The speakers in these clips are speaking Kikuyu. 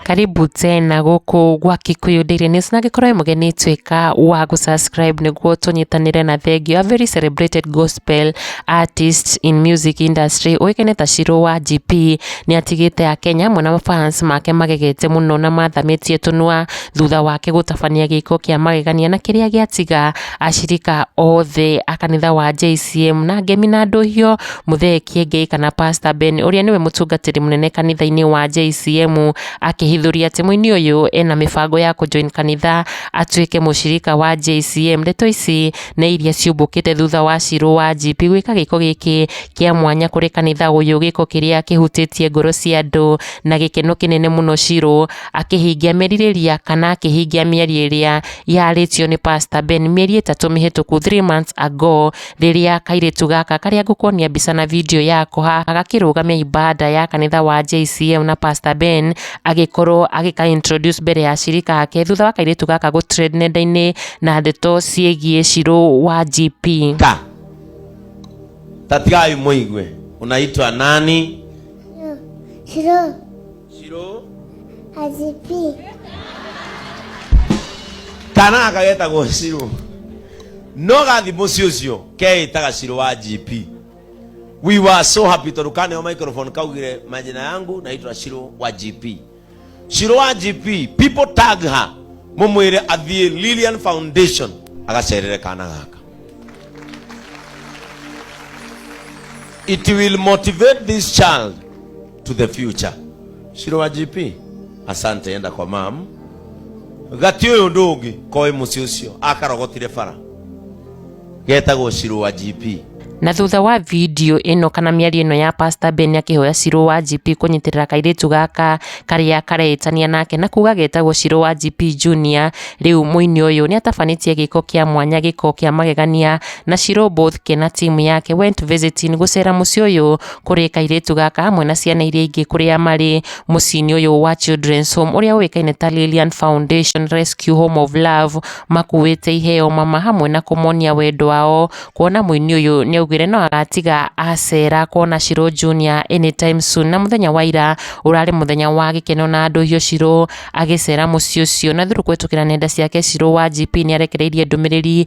karibu tena gũkũ gwa Kikuyu Daily News na angĩkorwo wĩ mũgeni tuĩka wa gũsubscribe nĩguo tũnyitanĩre na thengio a very celebrated gospel artist in music industry ũĩkaine ta Shiro wa GP nĩ atigĩte a Kenya mwena wa fans make magegete mũno na mathamĩtie tũnua thutha wake gũtabania gĩko kĩa magegania na kĩrĩa gĩatiga Acirika othe a kanitha wa JCM na ngemi na ndũhio mũthee Kiengei kana Pastor Ben ũrĩa nĩwe mũtungatĩri mũnene kanitha-inĩ wa JCM akĩhithũria atĩ mũini ũyũ ena mĩbango ya kũjoin kanitha atuĩke mũcirika wa JCM. Ndeto ici nĩ iria ciumbũkĩte thutha wa Shirũ wa GP gwĩka gĩko gĩkĩ kĩa mwanya kũrĩ kanitha ũyũ, gĩko kĩrĩa kĩhutĩtie ngoro cia andũ na gĩkeno kĩnene mũno Shirũ akĩhingia merirĩria kana akĩhingia mĩario ĩrĩa yarĩtio nĩ Pastor Ben mĩeri ĩtatũ mĩhĩtũku three months ago rĩrĩa kairĩtu gaka karĩa ngũkuonia mbica na video yako haha gakĩrũgamia ibanda ya kanitha wa JCM na Pastor Ben agĩkorwo agĩka introduce mbere ya shirika yake thutha wa kairĩtu gaka gũ trend nenda-inĩ na ndeto ciĩgiĩ Shirũ wa GP. ka tatigai mũigue unaitwa nani Shiro, Zero. Azipi. kana aka getagwo ciro no gathi muciĩ ũcio keĩtaga ciro wa gp we were so happy tondũ kaneo microphone kaugire majina yangu naitwa ciro wa gp ciro wa gp people tag her mũmwĩre athiĩ lilian foundation agacerere kana gaka it will motivate this child to the future shiro wa gp asante enda kwa mam gati uyu ndu ungi koi muci ucio akarogotire bara getagwo shiro wa gp Na thutha wa video ĩno kana mĩario ĩno ya Pastor Ben akĩhoya Shiro wa GP kũnyitĩrĩra kairĩtu gaka karĩa karehĩtania nake na kuga getagwo Shiro wa GP Junior. Rĩu mũini ũyũ nĩ atabanĩtie gĩko kĩa mwanya gĩko kĩa magegania na Shiro Bothke na timu yake went visiting gũcera mũciĩ ũyũ kũrĩ kairĩtu gaka hamwe na ciana iria ingĩ kũrĩa marĩ mũciĩ-inĩ ũyũ wa Children's Home ũrĩa ũĩkaine ta Lilian Foundation Rescue Home of Love makuĩte iheo mama hamwe na kũmonia wendo wao kuona mũini ũyũ nĩ augire no agatiga acera kuona Shiro Junior anytime soon na mũthenya wa ira ũrarĩ mũthenya wa gĩkeno na andũ hiũ Shiro agĩcera mũciĩ ũcio na through kũhetũkĩra nenda ciake Shiro wa GP nĩ arekereirie ndũmĩrĩri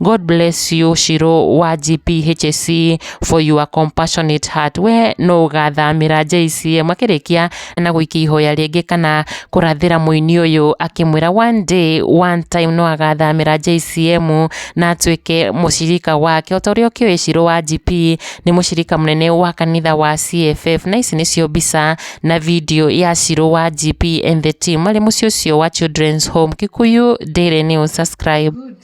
God bless you Shiro wa GPHC for your compassionate heart. We no ũgathamĩra JCM akĩrĩkia na gũikia ihoya rĩngĩ kana kũrathĩra mũini ũyũ akĩmwĩra one day one time no agathamĩra JCM na atuĩke mũcirika wake. O ta ũrĩa ũkĩũĩ Shiro wa GP nĩ mũcirika mũnene wa kanitha wa CFF na ici nĩcio mbica na video ya Shiro wa GP and the team marĩ mũciĩ ũcio wa Children's Home Kikuyu Daily News subscribe.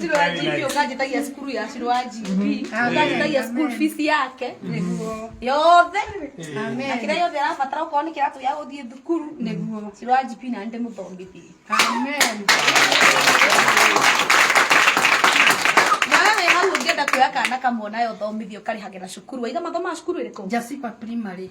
Ciro ya GP ũkanjĩtagia cukuru ya Ciro wa GP ũkanjĩtagia school fees yake yothe na kĩrĩa yothe arabatara okorwo nĩ kĩratũ gĩa gũthiĩ thukuru nĩguo Ciro wa GP na nĩ mũthomithie na wewe hau ũngĩenda kuoya kana kamwe nayo ũthomithio ũkarĩhagĩra cukuru waiga mathomaga cukuru ĩrĩkũ Jasipa Primary.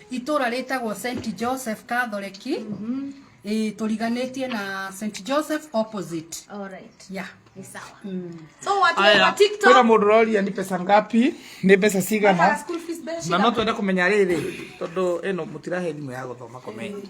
Itũra rĩtagwo Saint Joseph Kathoreki ĩ tũriganĩtie na Saint Joseph opposite Alright. yeah. Ni sawa. So watu wa Aya, TikTok. kwĩna mũndũ ũroria nĩ pesa ngapi nĩ mbeca Mara cigana school fees mbeca na no cigana? twende kũmenya rĩrĩ tondũ ĩno mũtirahe thimũ ya gũthoma komenti